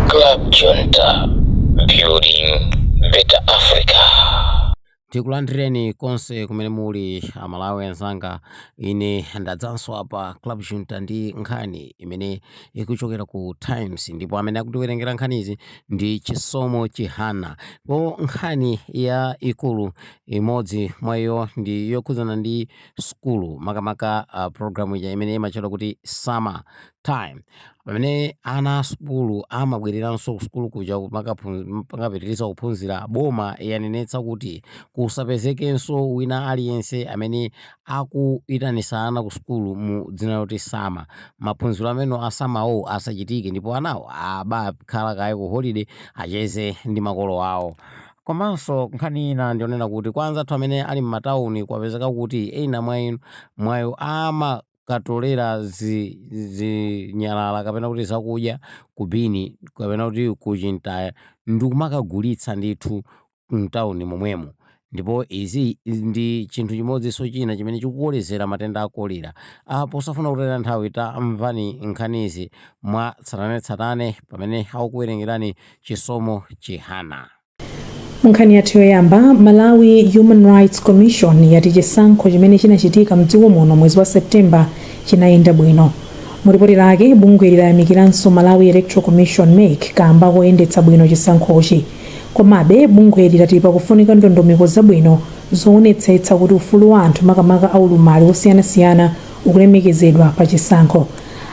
Club Junta, building better Africa. tikulandireni konse kumene muli amalawi anzanga ine ndadzanso apa club junta ndi nkhani imene ikuchokera ku times ndipo amene akutiwerengera nkhanizi ndi chisomo chihana po nkhani ya ikulu imodzi mwa iyo ndi yokhudzana ndi sukulu makamaka uh, program ija imene imatchedwa kuti summer time pamene ana a sukulu amabwereranso ku sukulu kuja makaphu- makapitiriza kuphunzira boma yanenetsa kuti kusapezekenso wina aliyense amene akuitanisa ana ku sukulu mu dzina loti summer maphunziro amene a summer-wo asachitike ndipo anawo abakhala kaye ku holiday acheze ndi makolo awo Komanso nkhani ina ndiyonena kuti kwa anzathu amene ali mmatauni kwapezeka kuti ena mwa iwo amakatolera zi zinyalala kapena kuti zakudya ku bini kapena kuti ku chintaya ndikumakagulitsa ndithu mtauni momwemo ndipo izi ndi chinthu chimodzinso china chimene chikukolezera matenda a kolera. A posafuna kutaya nthawi tamvani nkhanizi mwa tsatanetsatane pamene akukuwerengerani Chisomo Chihana. Munkhani yathu yoyamba, Malawi Human Rights Commission yati chisankho chimene chinachitika mdziko muno mwezi wa September chinayenda bwino. Mu lipoti lake, bungweli layamikiranso Malawi Electoral Commission MEC kaamba koyendetsa bwino chisankhochi. Komabe, bungweli lati pakufunika ndondomeko zabwino zoonetsetsa kuti ufulu wa anthu makamaka aulumali osiyanasiyana ukulemekezedwa pa chisankho.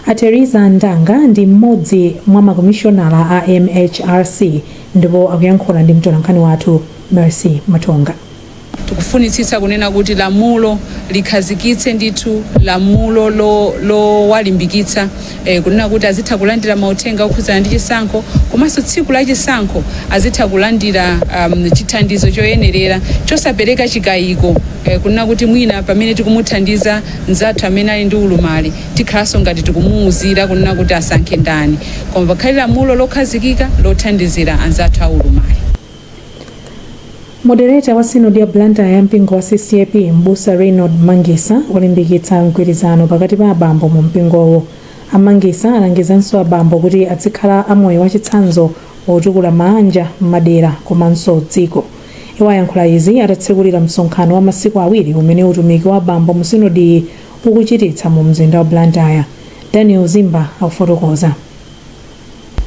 A Theresa Ndanga ndi m'modzi mwa makomishonala a MHRC ndipo akuyankhula ndi mtolankhani wathu Mercy Matonga. Tikufunitsitsa kunena kuti lamulo likhazikitse ndithu lamulo lowalimbikitsa. e, kunena kuti azitha kulandira mauthenga okhudzana ndi chisankho komanso tsiku la chisankho azitha kulandira um, chithandizo choyenerera chosapereka chikayiko e, kunena kuti mwina pamene tikumuthandiza mnzathu amene ali ndi ulumali tikhalanso ngati tikumuwuzira kunena kuti asankhe ndani koma pakhale lamulo lokhazikika lothandizira anzathu a ulumali Moderator wa Synod ya Blantyre ya mpingo wa CCAP m'busa Reynold Mangisa walimbikitsa mgwirizano pakati pa abambo mu mpingowu. A Mangisa alangizanso abambo kuti adzikhala a moyo wachitsanzo wotukula maanja, madera komanso dziko. Iwo ayankhula izi atatsekulira msonkhano wa masiku awiri umene utumiki wa abambo mu sinodiyi ukuchititsa mu mzinda wa Blantyre. Daniel Zimba akufotokoza.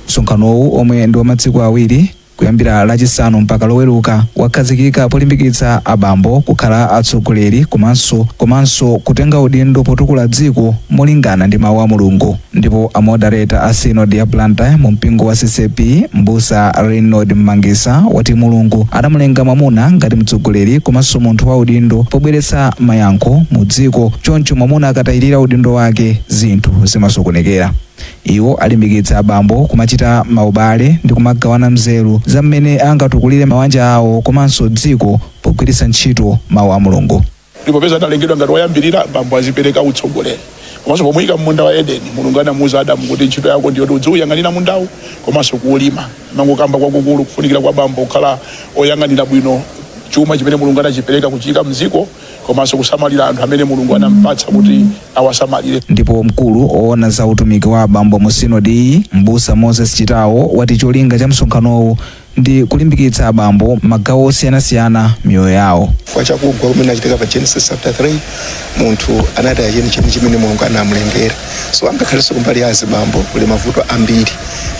Msonkhanowu omwe ndi wa masiku awiri kuyambira Lachisanu mpaka Loweruka wakhazikika polimbikitsa abambo kukhala atsogoleri komanso komanso kutenga udindo potukula dziko molingana ndi mawu a Mulungu. Ndipo a Moderator a Synod ya Blantyre mu mpingo wa CCAP Mbusa Reynold Mmangisa wati Mulungu adamulenga mwamuna ngati mtsogoleri komanso munthu wa udindo pobweretsa mayankho mu dziko choncho mwamuna akatayirira udindo wake zinthu zimasokonekera. Iwo alimbikitsa abambo kumachita maubale ndi kumagawana nzeru za mmene angatukulire mawanja awo komanso dziko pogwiritsa ntchito Mau a Mulungu. Ndipo popeza analengedwa ngati woyambirira, bambo azipereka utsogoleri. Komanso pomuika mmunda wa Edeni, Mulungu anamuuza Adamu kuti ntchito yako ndi yoti udziuyang'anira mundawu komanso kuulima. Mangokamba kwakukulu kufunikira kwa bambo kukhala oyang'anira bwino chuma chimene Mulungu anachipereka kuchiika mdziko. komanso kusamalira anthu amene mulungu anampatsa kuti awasamalire ndipo mkulu oona za utumiki wa abambo mu sinodiyi mbusa moses chitawo wati cholinga cha msonkhanowu ndi kulimbikitsa abambo magawo osiyanasiyana miyoyo yawo chifukwa chakugwa kumene kunachitika pa genesis chapter 3 munthu anataya chenicheni chimene mulungu anamulengera so angakhalenso kumbali ya azibambo kuli mavuto ambiri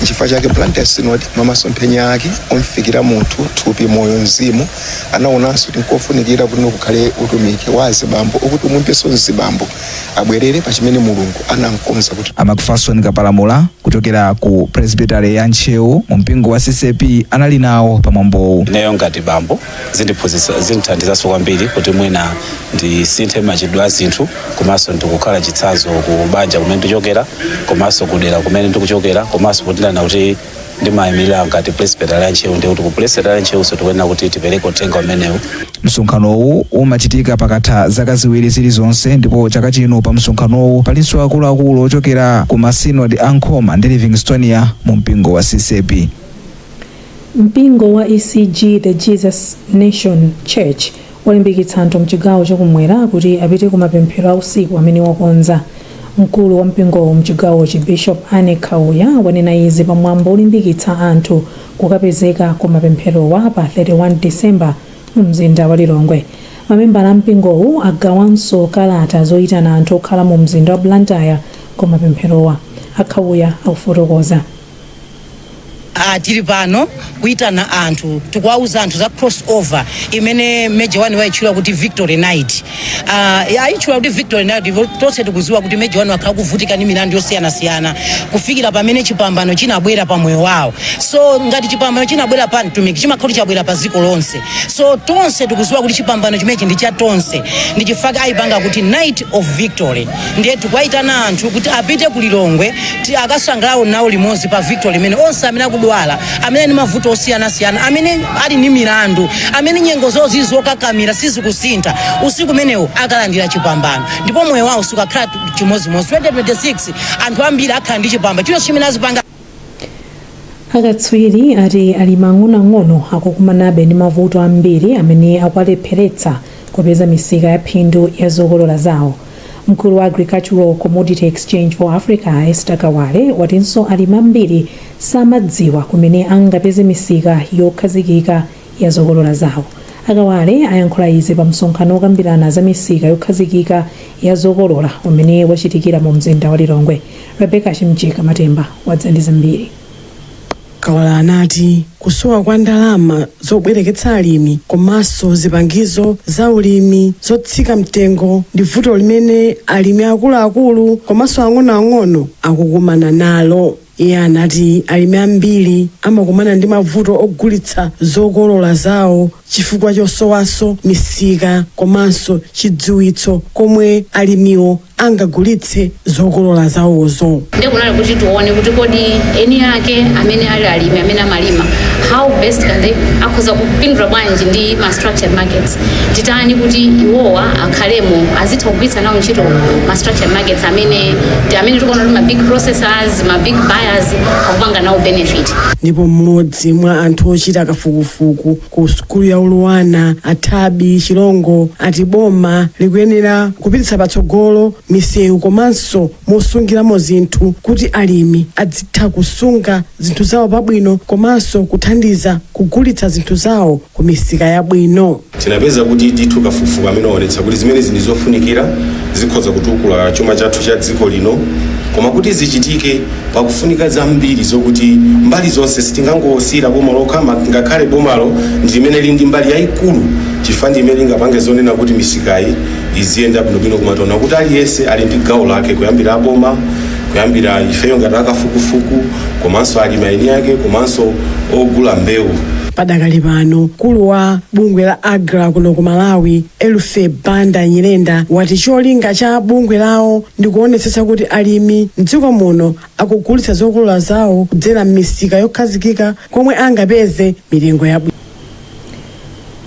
nchifukwa chake blantyre synod mwa masomphenya ake omufikira munthu thupi moyo mzimu anaonanso kuti nkofunikira kuti kukhale utumiki wa azibambo okuti aumbenso mzibambo abwerere pa chimene mulungu anamkonza kuti A Macpherson Kapalamula kuchokera ku Presbytery ya Ntcheu mu mpingo wa CCAP anali nawo pa mwambowu. ineyo ngati bambo zindithandizanso kwambiri kuti mwina ndisinthe machitidwe a zinthu komanso ndikukhala chitsanzo ku banja kumene ndikuchokera komanso kudera kumene ndikuchokera komanso kuti ndinena kuti ndimayimirira ngati presbytery ya ntcheu ndiye kuti ku presbytery ya ntcheunso tikuyenera kuti tipereke uthenga umenewu msonkhanowu umachitika pakatha zaka ziwiri zilizonse ndipo chaka chino pa msonkhanowu palinso akuluakulu ochokera ku masinodi a nkhoma ndi livingstonia mu mpingo wa ccp Mpingo wa ECG The Jesus Nation Church walimbikitsa anthu mchigawo chakumwera kuti apite ku mapemphero a usiku amene wakonza. Mkulu wa mpingowu mchigawochi Bishop Annie Khauya wanena izi pa mwambo olimbikitsa anthu kukapezeka ku mapempherowa pa 31 December mu mzinda wa Lilongwe. Mamembala a mpingowu agawanso kalata zoitana anthu okhala mu mzinda wa Blantyre ku mapempherowa. A Khauya akufotokoza. Ah, tili pano kuitana anthu tikuwauza anthu za cross over imene Major One waitchula kuti victory night ah, ayitchula kuti victory night ndipo tonse tikuziwa kuti Major One wakhala kuvutika ndi milandu yosiyanasiyana kufikira pamene chipambano chinabwera pa moyo wawo so ngati chipambano chinabwera pa mtumiki chimakhala kuti chabwera pa dziko lonse so tonse tikuziwa kuti chipambano chimenechi ndi cha tonse ndi chifukwa ayipanga kuti night of victory ndiye tikuwaitana anthu kuti apite ku lilongwe ti akasangalale nawo limodzi pa victory imene onse amene akudwala amene ali ndi mavuto osiyanasiyana amene ali ndi milandu amene nyengo zawo zili zokakamira sizikusintha usiku umenewo akalandira chipambano ndipo moyo wawo sukakhala chimodzimodzi 2026 anthu ambiri akhala ndi chipambano chino chimene azipanga Akatswiri ati alimi ang'onoang'ono akukumanabe ndi mavuto ambiri amene akuwalepheretsa kupeza misika ya phindu ya zokolola zawo. Mkulu wa Agricultural Commodity Exchange for Africa, a Esther Kawale, watinso alimi ambiri samadziwa kumene angapeze misika yokhazikika ya zokolola zawo. A Kawale ayankhula izi pa msonkhano wokambirana za misika yokhazikika ya zokolola umene wachitikira mu mzinda wa Lilongwe. Rebecca Chimjeka Matemba wadza ndi zambiri. Kawale anati kusowa kwa ndalama zobwereketsa alimi komanso zipangizo za ulimi zotsika mtengo ndi vuto limene alimi akuluakulu komanso ang'onoang'ono akukumana nalo. Iye anati alimi ambiri amakumana ndi mavuto ogulitsa zokolola zawo chifukwa chosowanso misika komanso chidziwitso komwe alimiwo angagulitse zokolola zawozo. Nde kunali kuti tione kuti kodi eni ake amene ali alimi amene amalima how best can they akhoza kupindula bwanji ndi ma structured markets. titani kuti iwowa akhalemo azitha kugwiritsa nawo ntchito ma structured markets amene ndi amene tikuona kuti ma big processors ma big buyers akupanga nawo benefit ndipo mmodzi mwa anthu ochita kafukufuku ku sukulu ya luanar a thabbie chilongo ati boma likuyenera kupititsa patsogolo misewu komanso mosungiramo zinthu kuti alimi adzitha kusunga zinthu zawo pabwino komanso kuthandiza kugulitsa zinthu zawo ku misika yabwino. Tinapeza kuti ndithu kafukufuku amene waonetsa kuti zimenezi ndi zofunikira zikhoza kutukula chuma chathu cha dziko lino koma kuti zichitike pakufunika zambiri zokuti mbali zonse sitingangosiyira boma lokha ma- ngakhale bomalo ndi limene lili ndi mbali yayikulu chifukwa ndi imene lingapange zonena kuti misikayi iziyenda bwinobwino koma taona kuti aliyense ali ndi gawo lake kuyambira aboma kuyambira ifeyo ngati akafukufuku komanso alimi eni ake komanso ogula mbewu Padakali pano mkulu wa bungwe la AGRA kuno ku Malawi Eluphy Banda Nyirenda wati cholinga cha bungwe lawo ndi kuonetsetsa kuti alimi mdziko muno akugulitsa zokolola zawo kudzera m'misika yokhazikika komwe angapeze mitengo yabwino.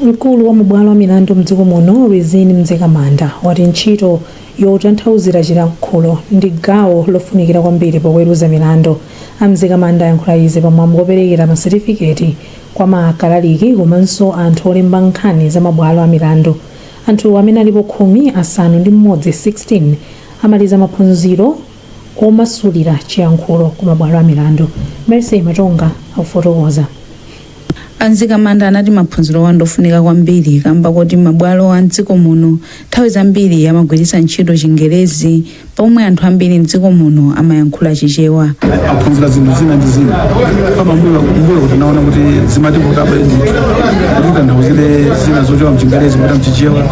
Mkulu wa mabwalo a milandu mdziko muno Rizine Mzikamanda wati ntchito yotanthauzira chilankhulo ndi gawo lofunikira kwambiri poweruza milandu. A Mzikamanda ayankhula izi pa mwambo operekera ma certificate kwa ma kalaliki komanso anthu olemba nkhani za mabwalo a milandu. Anthuwa amene alipo khumi, asanu ndi m'modzi 16 amaliza maphunziro omasulira chiyankhulo ku mabwalo a milandu. Mercy Matonga akufotokoza. A Mzikamanda anati maphunzirowa ndofunika kwambiri kamba koti mabwalo a m'dziko muno nthawi zambiri amagwiritsa ntchito chingerezi pomwe anthu ambiri m'dziko muno amayankhula Chichewa. aphunzira zinthu zina ndi zina m'mbuyomu kuti naona kuti zimativuta bwino kuti titanthauzire zina zochoka mchingerezi kupita mchichewa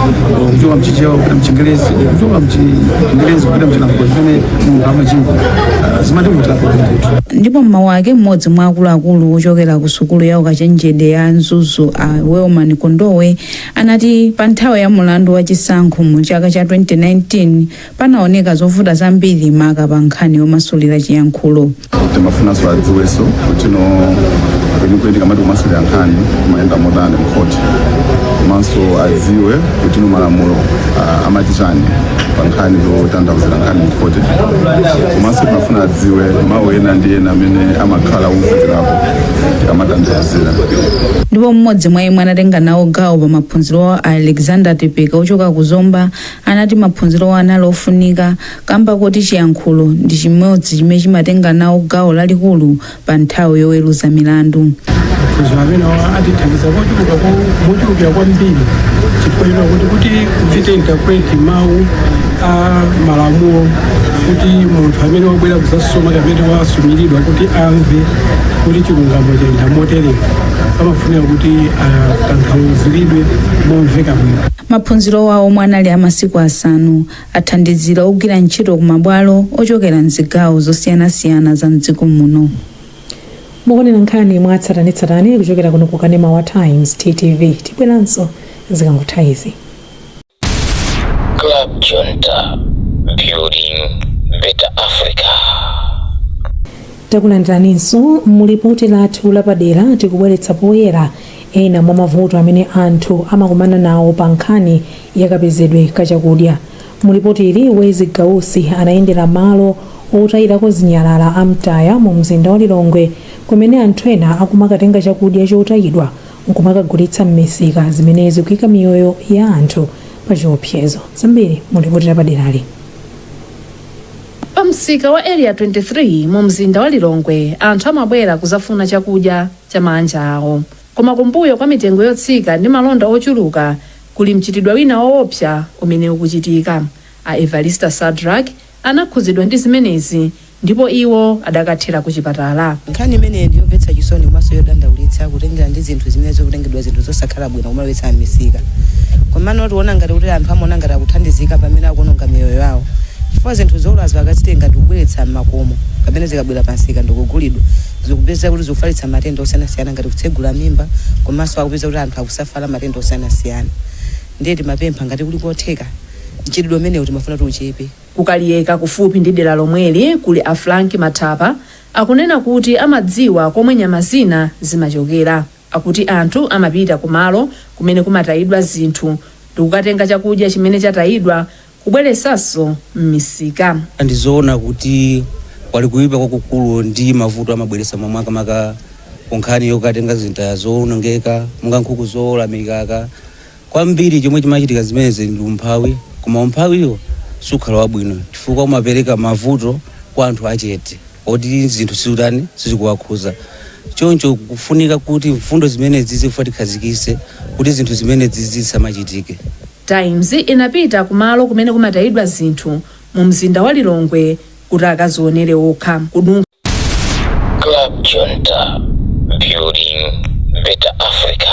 kuchoka mchichewa kupita mchingerezi kuchoka mchingerezi kupita mchilankhulo chimene munthu amachimva Ah, zimativutira kuti ndithu ndipo m'mawu ake mmodzi mwa akuluakulu ochokera ku sukulu ya ukachenjede ya Mzuzu a Wellman Kondowe anati pa nthawi ya mulandu wa chisankho mu chaka cha 2019 panaoneka zovuta zambiri maka pa nkhani yomasulira chiyankhulo timafunanso adziwenso kuti no kwenikweni tikamati kumasulira nkhani kumayenda motani mkhoti komanso adziwe kuti no malamulo ah, amati chani pa nkhani zotanthauzira nkhani mkhoti komanso timafuna adziwe mawu ena ndi ena amene amakhala ovutirapo tikamatanthauzira ndipo mmodzi mwa omwe anatenga nawo gawo pa maphunzirowa a alexander tepeka ochoka ku zomba anati maphunzirowa anali ofunika Kamba koti chiyankhulo ndi chimodzi chimene chimatenga nawo gawo lalikulu pa nthawi yoweruza milandu. maphunziro amenewa atithandiza kochuluka ko- mochulukira kwambiri chifukwa china kuti kuti kuchita interpret mawu a malamulo kuti munthu amene wabwera kuzasuma kapena wasumiridwa kuti amve kuti chilungamo chayenda motere amafunika kuti atanthauziridwe momveka bwino Maphunzirowa omwe anali a masiku asanu athandizira ogwira ntchito ku mabwalo ochokera m'zigawo zosiyanasiyana za m'dziko muno. mukuonera nkhani mwa tsatanetsatane kuchokera kuno ku kanema wa times ttv tibweranso zikangotha izi Club Junta, building better Africa. takulandiraninso mu lipoti lathu lapadera tikubweretsa poyera ena mwa mavuto amene anthu amakumana nawo pa nkhani ya kapezedwe ka chakudya. Mu lipoti ili, Wezi Gausi anayendera malo otayirako zinyalala a Mtaya mu mzinda wa Lilongwe kumene anthu ena akumakatenga chakudya chotayidwa nkumakagulitsa m'misika zimene zikuika miyoyo ya anthu pa chiopsezo. Zambiri mu lipoti lapaderali. Pa msika wa Area 23 mu mzinda wa Lilongwe anthu amabwera kuzafuna chakudya cha maanja awo. Koma kumbuyo kwa mitengo yotsika ndi malonda ochuluka, Kuli mchitidwe wina woopsa umene ukuchitika. A Evalista Sadrack anakhudzidwa ndi zimenezi ndipo iwo adakathera ku chipatala. Nkhani imeneyi ndi yomvetsa chisoni komanso yodandaulitsa kutengera ndi zinthu zimene zikutengedwa zinthu zosakhala bwino kumalowetsa m'misika. Komano tiona ngati kuti anthu amaona ngati akuthandizika pamene akuononga miyoyo yawo chifukwa zinthu zoolazo akazitenga ndi kubweretsa m'makomo kapena zikabwera pa msika ndi kugulidwa zikupezeka kuti zikufalitsa matenda osiyanasiyana ngati kutsegula mimba komanso akupezeka kuti anthu akusafala matenda osiyanasiyana ndiye timapempha ngati kuli kotheka mchitidwe umenewu timafuna kuti uchepe. Ku Kaliyeka kufupi ndi dera lomweli kuli a Frank Mathapa akunena kuti amadziwa komwe nyama zina zimachokera. Akuti anthu amapita kumalo kumene kumatayidwa zinthu ndikukatenga chakudya chimene chatayidwa kubweresanso m'misika. Ndi zoona kuti pali kuipa kwakukulu ndi mavuto amabweretsa ma makamaka ku nkhani yokatenga zinthu zowonongeka monga nkhuku zoola mikaka. Kwambiri chomwe chimachitika zimenezi ndi umphawi, koma umphawiwo sukhala wabwino chifukwa umapereka mavuto kwa anthu achete oti zinthu sizikutani, sizikuwakhuza. Choncho kukufunika kuti mfundo zimenezi zifika tikhazikitse kuti zinthu zimenezi zisamachitike. Times inapita kumalo kumene kumatayidwa zinthu mu mzinda wa Lilongwe kuti akazionere okha. Club Jonta, building better Africa.